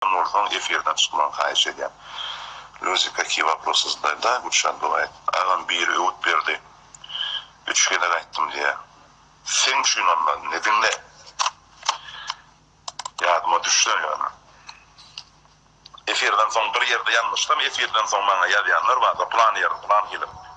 Kim bolsaň efirden çykmagy haýyş edýän. Luzi kakiý waprosy zdaý da Gülşan doga et. Agam biri öwüt berdi üç gezek aýtdym diýýä. Seň üçin onda indi diňle. Ýadyma düşse ýöne. Efirden soň bir ýerde ýalňyşsam efirden soň maňa ýazýanlar bar da plan ýerde plan film.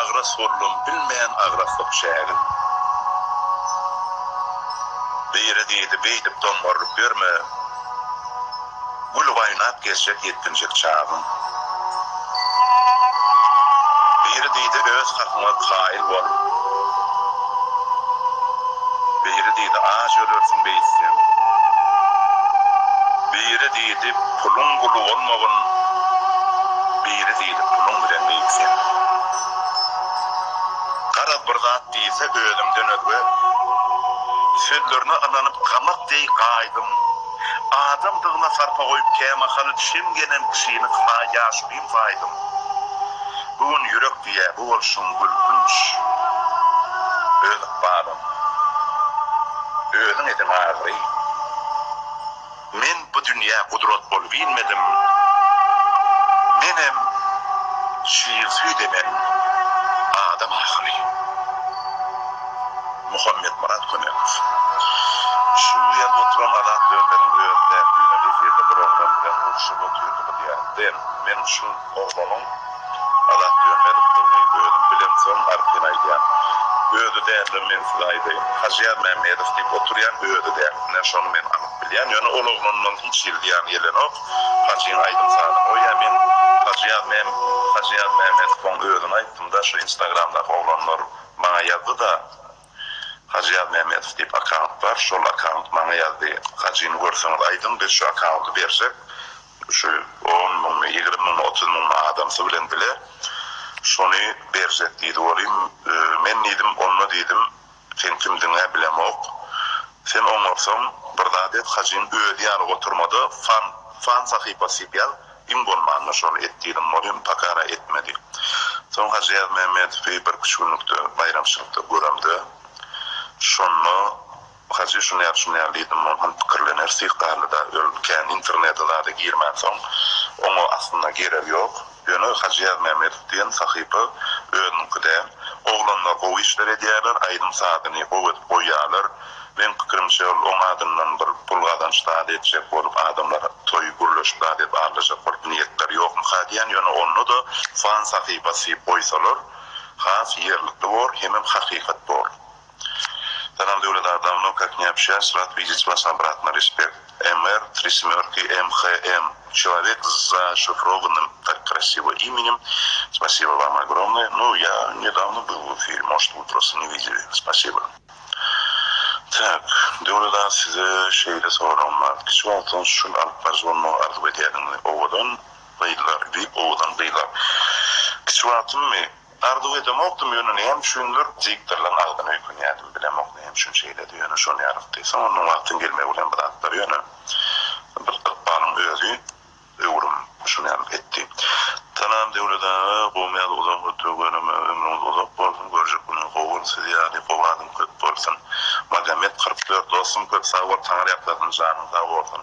Agras boldum bilmän agraslyk çägin. Biri diýdi beýdip doňňarlyk ýörme. Gülüp aýnap gezjek ýetginjek çagyň. Biri diýdi öz hakyňa kaýyl bol. Biri diýdi aç ölersiň beýtseň. Biri diýdi puluň guly bolmagyn. Biri diýdi. Bir puluň bilen beýik sen. Garaz bir zat diýse özümden özge Sözlerine ynanyp gamak deý gaýdym Adamdygyna sarpa goýup kämahal Şem gelen kişini ha ýaşulyň saýdym Bu gün ýürek diýýä bu bolşuň gülkünç Öz ykbalyň özüň edin agry. Men bu dünýä gudrat bolup inmedim, menem şir süýt emen adam ahyry. Muhammetmyrat Kömekow. Şu ýerde oturan Azat Dönderiň özi däl, düýn-ä efirde bir oglan bilen urşup otyrdy bu diýarda. Men şu oglanyň. Azat Dönmezowdygyny özüm bilemsoň artyn aýdýan. Özi däldir men size aýdaýyn. Hajyýar Mämmedow diýip oturýan özi däl. Ine şony men anyk bilýän. Ýöne ol oglandan hiç hili zyýan gelenok. Hajyň aýdym-sazyny goýýa men. Hajyýar Mäm Hajyýar Mämmedowyň özüni aýtdym-da şu instagramdaky oglanlar maňa ýazdy-da. Hajyýar Mämmedow diýip akaunt bar. Şol akaunt maňa ýazdy. Hajyny görseňiz aýdyň biz şu akaunty berjek. Şu on müňmi, ýigrimi müňmi, otuz müňmi adamsy bilen bile şony berjek diýdi. Welin, men diýdim, onda diýdim, sen kimdigiň-ä bilemok. Sen oňarsaň, bir zat et, hajyň özi ýaly oturma-da, fan, fan sahypasy diýip ýaz, iň bolmanda şony et diýdim. Welin, pakara etmedi. Soň Hajy Ýazmämmedowy birküç günlükde baýramçylykda göremde, şonda Hajy şunyar-şunyar diýdim, ol muň pikirlener syhtarly-da, öl, kän internede zada girmänsoň, oňa aslynda geregi ýok. Ýöne Hajy Ýazmämmedow diýen sahypa özüniňki däl. Oglanlar gowy işler edýärler, aýdym-sazyny gowy edip goýýarlar. Meň pikirimçe, ol oň adyndan bir pul gazanç zady etjek bolup, adamlar toý gürleşip zat edip aglaýjak bolup niýetleri ýokmyka diýän, ýöne onda-da fan sahypasy goýsalar, has ýerlikli bor, hemem hakykat bor. Salam Döwlet aga dawno kak ne obşaýas rad widic was obratno respekt MR tri smörki MHM çelowek z zashifrovannym tak krasivo imenim spasibo vam ogromnoe nu ja nedawno bil w efiri mosht w prosto ne videli spasibo tak Döwlet aga size şeýle soragym bar kiçi wagtdan şul alyp baryjy bolmagy arzuw edýärdiňizmi owadan gyzlar diýip owadan gyzlar kiçi wagtymmy Arzuw edemokdym, ýöne näme üçindir, diktorlaň agzyny öýkünýärdim, bilemok näme üçin şeýledi, ýöne şonýarykdy. Soň onuň wagtyň gelmegi bilen bu zatlar ýöne bir ykbalyň özi öwrüm şonýalyk etdi. Salam Döwlet aga, gowy ýaly uzak ötügi göreme ömrüňiz uzak bolsun, görjek günüňiz gowy bolsun, siz ýaly gowy adam köp bolsun. Magomed kyrk dört dostum köp sag bol, taňyr ýaklasyn, janyň sag bolsun.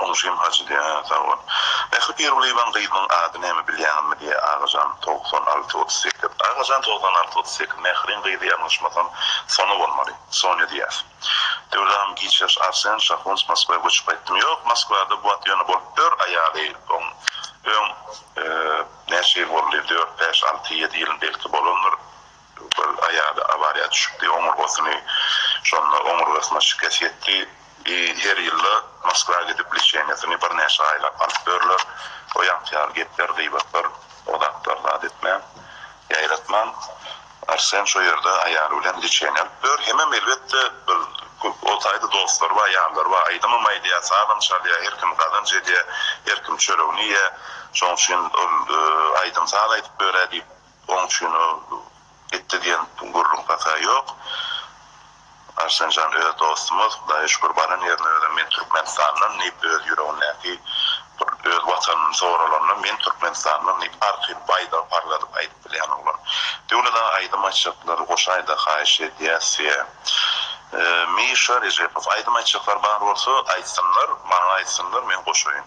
Oňşym hajy diýýä hä sag bol. Mähri Pirgulyýewanyň gyzynyň ady näme bilýäňizmi diýýä Agajan togsan alty otuz sekiz. Agajan togsan alty otuz sekiz Mähriň gyzy ýalňyşmasam Sona bolmaly. Sonya diýýäs. Döwlet agam giç ýaş Arsen Şahuns Moskwa göçüp gaýtdym ýok Moskwada bu wagt ýöne bolup ýör aýaly oň öň näçe ýyl boldy dört bäş alty ýedi ýyl belki bolandyr Bir aýaly awariýa düşüpdi, oňurgasyny şonda oňurgasyna şikes ýetdi. Her ýylda Moskwa gidip leçeniýasyny birnäçe aýlap alyp ýörler. O ýaňky ýaly gepler, gybatlar o zatlar zat etmän, ýaýratman. Arsen şo ýerde aýaly bilen leçeniýa alyp ýör. Hemem elbetde bir köp o taýda dostlary bar, ýarlary bar. Aýdymam aýdýar, sazam çalýar, her kim gazanç edýär, her kim çöregini iýýär. Şoň üçin ol aýdym-saz aýdyp ýörä diýip. Oň üçin ol gitdi diýen gürrüň pata ýok. Arslanjan öz dostumyz, Hudaýa şükür baran ýerine özem men Türkmenistandan diýip öz ýüregindäki bir öz watanyny soralanda men Türkmenistandan diýip arky baýdagy parladyp aýdyp bilýän oglan. Döwlet aga aýdym aýtjaklar goşy aýda haýyş edýäs size. Mişa Rejepow aýdym aýtjaklar bar bolsa aýtsynlar maňa aýtsynlar men goşaýyn.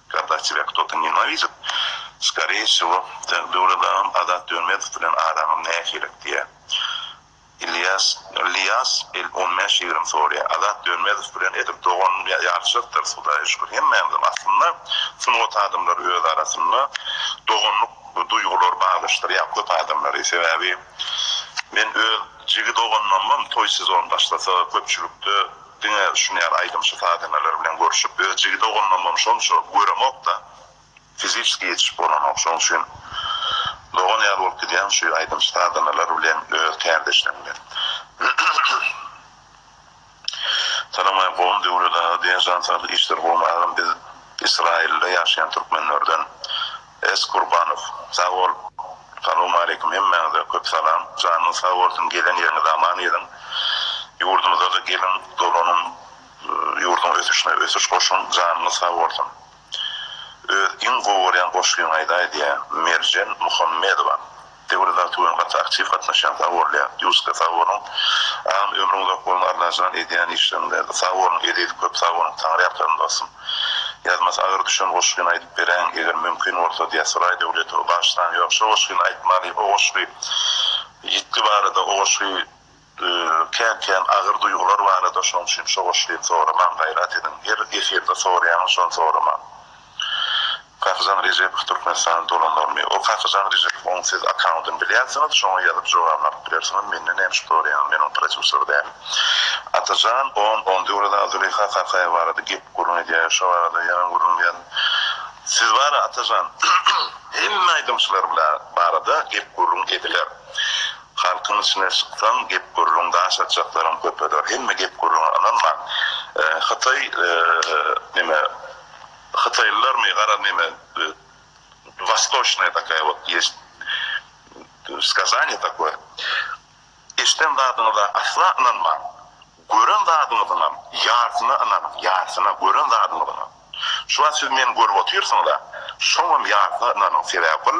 Kogda tebe kto-to nenawidit, skoreýe wsýo, sen Döwledagam Azat Dönmedow bilen araňam nähili? diýýä. Ilýas, Ilýas il on bäş ýigrimi soraýa. Azat Dönmedow bilen edil dogan ýalyşakdyrys, Hudaýa şükür, hemmämizem aslynda sungat adamlary öz arasynda doganlyk duýgulary baglanyşdyrýar köp adamlary. Sebäbi men öz jigi doganymam toý sezony başlasa köpçülikde, Diňe düşünýän aýdymçy sazenalar bilen görüşip öz jigide ogundanam şonça göremokda fiziçeski ýetişip bolanok şoň üçin dogan ýaly bolup gidýäň şu aýdymçy sazenalar bilen öz kärdeşleň bilen. Salam Aý gowmy Döwlet aga diýen jan saglyk işler gowmy agam biz Israilde ýaşaýan türkmenlerden. S Kurbanow sag bol. Salowmaleýkim hemmäňize köp salam janyňyz sag bolsun gezen ýeriňiz aman geziň ýurdumyzada geliň dolanyň ýurduň ösüşine ösüş goşuň janyňyz sag bolsun öz iň gowy görýän goşgyňy aýdaý diýä Merjen Muhammedowa Döwür zat bilen gaty aktiw gatnaşýaň sag bol Ýak Ýuska sag boluň agam ömrüň uzak bolsun Allajan edýän işleriň berdi sag boluň Eziz köp sag boluň Taňryýalkasyn dostum Ýazmasy agyr düşen goşgyny aýdyp beräýiň eger mümkin bolsa diýýär Suraý Döwletow bagyşlaň ýok şo goşgyny aýtmaly o goşgy ýitgi barada o goşgy Kän-kän agyr duýgular barada şoň üçin şogoşlin soramaň gaýrat ediň her efirde soraýaňyz şony soramaň. Kakyjan Rejepow Türkmenistana dolanarmy? Ol Kakyjan Rejepow oň siz akkauntyny bilýänsiňiz şoňa ýazyp jogabyny alyp bilersiňiz mende näme üçin soraýaňyz men oň prodýuser däl. Atajan on on döwrada Zuleýha Kakaýewa barada gep gürrüň edýär şo barada ýaňy gürrüň ýaz siz bara Atajan hemme aýdymçylar barada gep gürrüň ediler. Halkyň içine çyksaň gep-gürrüň daş atjaklaryň köpeder. Hemme gep-gürrüňe ynanmaň. Hytaý neme Hytaýlylarmy gara neme Wastoçnaya takaya wot ýest skazaniýa takoýe. Eşden zadyňyza asla ynanmaň. Gören zadyňyzyňam ýarsyna ynanyň ýarsyna gören zadyňyzyňam. Şu wagt siz meni görüp otyrsyňyza şoňam ýarsyna ynanyň sebäbi ol.